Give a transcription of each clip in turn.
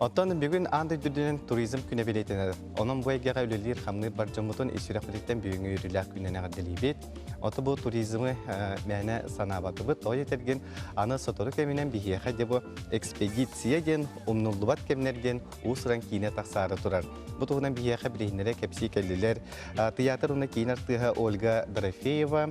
Оттон бүгүн аан дойдутунан туризм күнэ билиэтинэр. Онон бу эйгэҕэ үлэлиир хамныыр бар дьоммутун ис сүрэхпититтэн бүгүҥҥү үөрүүлээх күнүнэн эҕэрдэлиибит. Ото бу туризмы э, мээнэ санаабатыбыт. Той этэргин аны сотору кэминэн биһиэхэ дебо экспедиция диэн умнуллубат кэмнэрген уус-уран киинэ тахсаары турар. Бу туһунан биһиэхэ билиһиннэрэ кэпсии кэллилэр. Э, тыйаатыр уна киин артыыһа Ольга Дорофеева,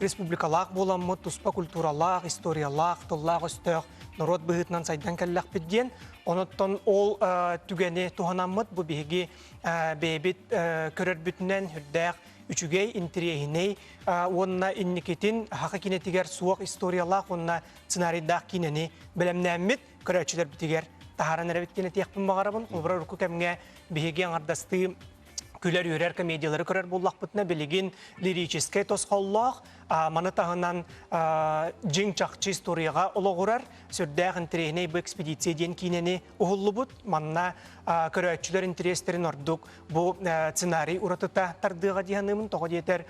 Республикалаах буоламмыт, туспа культуралаах, историялаах, тыллаах-өстөөх норуот быһыытынан сайдан кэллэхпит диэн. Онуттан ол түгэни туһанаммыт бу биһиги бэйэбит көрөрбүтүнэн үрдээх үчүгэй, интириэһинэй уонна инникитин Аха киинэтигэр суох историялаах уонна сценарийдаах киинэни бэлэмнээммит көрөөччүлэрбитигэр таһааран эрэбит диэн этиэхпин баҕарабын. Холобура, урукку кэмҥэ биһиги аҥардастыы күлэр-үөрэр комедиялары көрөр буллахпытына билигин лирическэй тосхоллоох маны таһынан дьиҥ чахчы историяҕа олоҕурар сүрдээх интириэһинэй бу экспедиция диэн киинэни уһуллубут манна көрөөччүлэр интириэстэрин ордук бу сценарий уратыта тардыаҕа дии саныыбын тоҕо диэтэр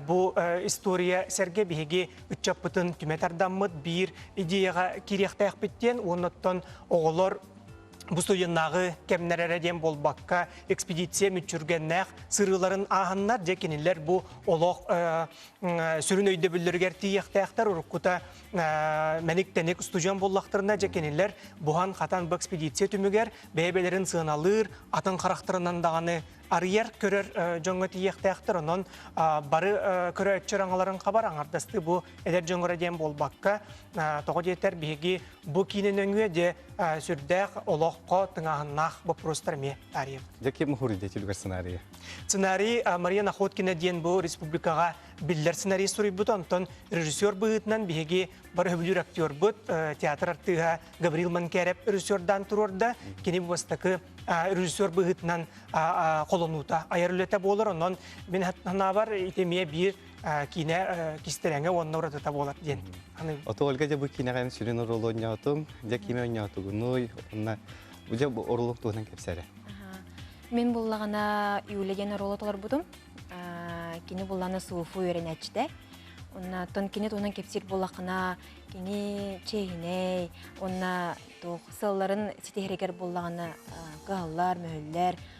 бу история сэргэ биһиги ыччаппытын түмэ тардаммыт биир идеяҕа кириэхтээхпит диэн уонна оттон оҕолор Бу студеннааҕы кэмнэр эрэ диэн буолбакка, экспедиция мүччүргэннээх сырыыларын ааһаннар, дьэ кинилэр бу олох сүрүн өйдөбүллэригэр тиийиэхтээхтэр. Уруккута мэник-тэник студион буллахтарына, дьэ кинилэр буһан-хатан бу экспедиция түмүгэр бэйэ-бэйэлэрин сыаналыыр, атын харахтарынан даҕаны арыйар, көрөр дьоҥҥо тиийиэхтээхтэр. Онон бары көрөөччү аҥаларын хабар аҥардастыы бу эдэр дьоҥҥо диэн буолбакка, тоҕо диэтэр биһиги Бу киинэ нөҥүө де сүрдээх олоххо тыҥааһыннаах боппуруостар эмиэ таарыйар. Дьэ ким уһуруйда түбүгэр сценарийы? Сценарий Мария Находкина диэн бу республикаҕа биллэр сценарий суруйбут, онтон режиссер быһыытынан биһиги бары хөбүлүүр актербут, театр артыыһа Гаврил Манкеров режиссердаан туруорда. Кини бу бастакы режиссер быһыытынан холонуута, айар үлэтэ буолар. Онон мин санаабар, ити эмиэ биир киинэ кистэлэҥэ уонна уратыта буолар диэн аныыбын. Ото Ольга дьэ бу киинэҕэ сүрүн оруолу оонньоотум. Дьэ кими оонньоотугунуй уонна дьэ бу оруолу туһунан кэпсээрэ. Мин буллаҕына Юля диэн оруолу толорбутум. Кини буллаҕына суфу үөрэнээччитэ. Онно тон кини туһунан кэпсиир буллаххына кини чиэһинэй, онно туох сылларын ситиһэригэр буллаҕына кыһаллар, мөһүллэр,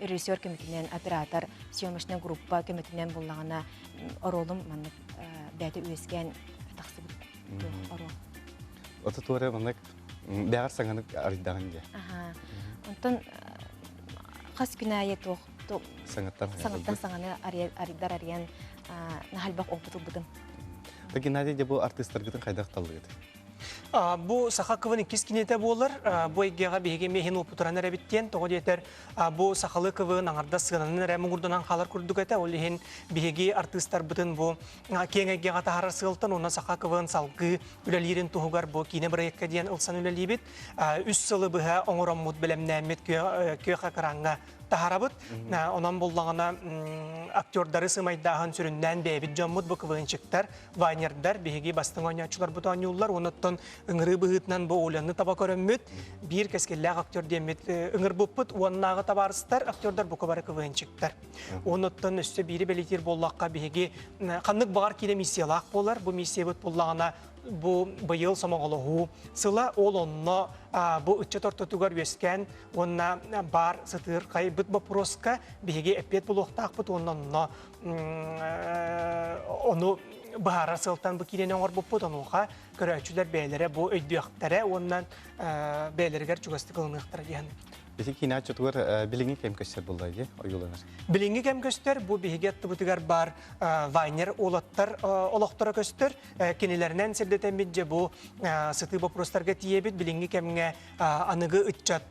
режиссер көмөтүнэн оператор съемочная группа көмөтүнэн буллаҕына оруолум маннык бэйэтэ үөскээн тахсыбыт оруол аудитория маннык бэҕэр саҥанык арыйдаҕын дии онтон хас күн аайы туох саҥаттан саҥаны арыйдар арыйан наһальбах опыт ылбытым да геннадий де бу артыыстаргытын хайдах таллыгыт Бу саха кылын иккис киниэтэ буолар. Бу эйгэҕэ биһиги эмиэ иһин уопутуран эрэбит диэн. Тоҕо диэтэр, бу сахалыы кылын аҥардас сыананан эрэ муҥурданан хаалар курдук этэ. Ол иһин биһиги артыыстарбытын бу киэҥ эйгэҕэ таһаарар сыалтан уонна саха кылын салгыы үлэлиирин туһугар бу киинэ бырайыакка диэн ылсан үлэлиибит. Үс сылы быһа оҥороммут, бэлэмнээммит күөх экраҥҥа таһарабыт. Онон буллаҕына актердары сымайдааһын сүрүннээн бэйэбит дьоммут буквыынчыктар, вайнердар биһиги бастыҥ оонньооччуларбыт оонньууллар. Онуттан ыҥырыы быһыытынан бу Оляны таба көрөммүт. Биир кэскиллээх актер диэммит ыҥырбыппыт уоннааҕы табаарыстар актердар бука бары квынчиктар. Онуттан өссө биири бэлитиир буоллахха биһиги ханнык баҕар киирэ миссиялаах буолар. Бу миссиябыт буллаҕына бу быйыл сомоҕолоһуу сыла ол онно бу ыччат ортотугар үөскээн Уонна баар сытыырхайбыт боппуруоска биһиги эппиэт булуохтаахпыт уонна онно ону быһаарар сылтан бу киирэни оҥорбуппут онуоха көрөөччүлэр бэйэлэрэ бу өйдүөхтэрэ уонна бэйэлэригэр чугастык ылыныахтара диэн Биһиги киинааччытыгар билиҥҥи кэм көстөр буллар дии ойууланар. Билиҥҥи кэм көстөр бу биһиги аттыбытыгар бар вайнер уолаттар олохторо көстөр. Кинилэринэн сирдэтэммит дьэ бу сытыы боппуруостарга тиийэбит билиҥҥи кэмҥэ аныгы ыччат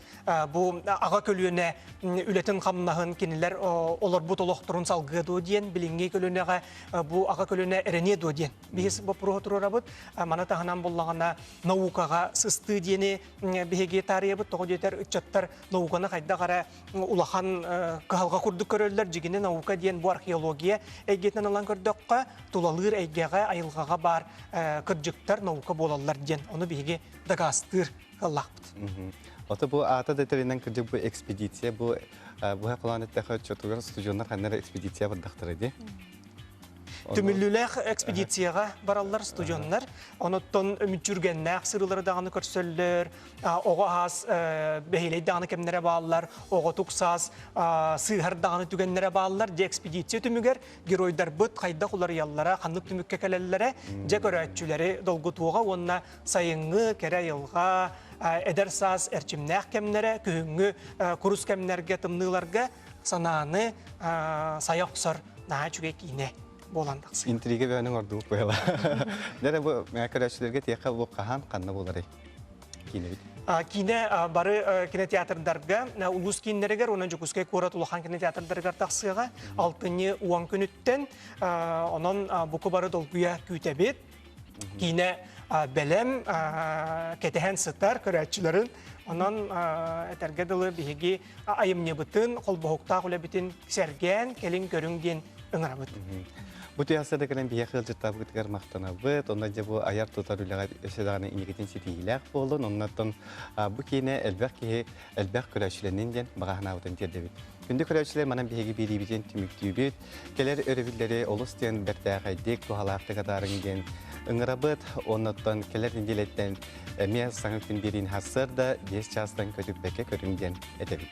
бу аҕа көлүөнэ үлэтин-хамнаһын кинилэр олорбут олохторун салгыа дуо диэн билиҥҥи көлүөнэҕэ бу аҕа көлүөнэ эрэниэ дуо диэн биһиз боппуруоһу туруорабыт маны таһынан буллаҕына наукаҕа сыстыы диэни биһиги таарыйабыт тоҕо диэтэр ыччаттар науканы хайдах эрэ улахан кыһалҕа курдук көрөллөр дьигини наука диэн бу археология эйгэтинэн ылан көрдөххө тулалыыр эйгэҕэ айылҕаҕа баар кырдьыктар наука буолаллар диэн ону биһиги дагастыыр кыллахпыт. Ото бу аата да тэринэн кырдьык бу экспедиция бу быһа кылаан эттэхэ оччотугар студионнар ханнара экспедиция бардахтара ди. Түмүллүүлээх экспедицияға бараллар студионнар. Оноттон үмүтчүргеннээх сырылары даҕаны көрсөллөр. Оҕо ас бэһилей даҕаны кэмнэрэ бааллар. Оҕо туксас сыыһар даҕаны түгеннэрэ бааллар. Де экспедиция түмүгэр геройдарбыт хайдах уларыйаллара, ханнык түмүккэ кэлэллэрэ, дьэ көрөөччүлэри долгутуоҕа уонна Сайыҥҥы, кэрэ айылҕа, эдэр саас эрчимнээх кэмнэрэ күһүҥҥү курус кэмнэргэ, тымныыларга санааны сая охсор наһаа үчүгэй киинэ буолан тахсар. Интрига бэйэниҥ ордубут быйла. Дэрэ бу көрөөччүлэргэ тиэхэ улук хаһаан ханна буларый киинэбит? Киинэ бары кинотеатрдарга улуус кииннэригэр уонна Дьокуускай куорат улахан кинотеатрдарыгар тахсыаҕа алтынньы уон күнүттэн онон буку бары долгуйа күүтэбит киинэ бэлэм кэтэһэн сытар көрөөччүлэрин онон этэргэ дылы биһиги айымньыбытын холбоһуктаах үлэбитин сэргээн кэлин көрүҥ диэн ыҥырабыт Бу тыйаастарда кэлэн биһиэхэ ыалдьыттаабытыгар махтанабыт. Онно дьэ бу айар-тутар үлэҕэ өссө даҕаны инникитин ситиһиилээх буоллун. Оннуттан бу киинэ элбэх киһи элбэх көрөөччүлэнин диэн баҕаһынаабытын тиэрдэбит. Күндү көрөөччүлэр манан биһиги биэриибитин түмүктүүбүт. Кэлэр өрөбүллэри олус диэн бэртээхэйдик, туһалаахтык атаарыҥ диэн ыҥырабыт. Оннуттан кэлэр нэдиэлэттэн эмиэ саҥа күн биэриин хассарда 10 чаастан көтүппэккэ көрүҥ диэн этэбит.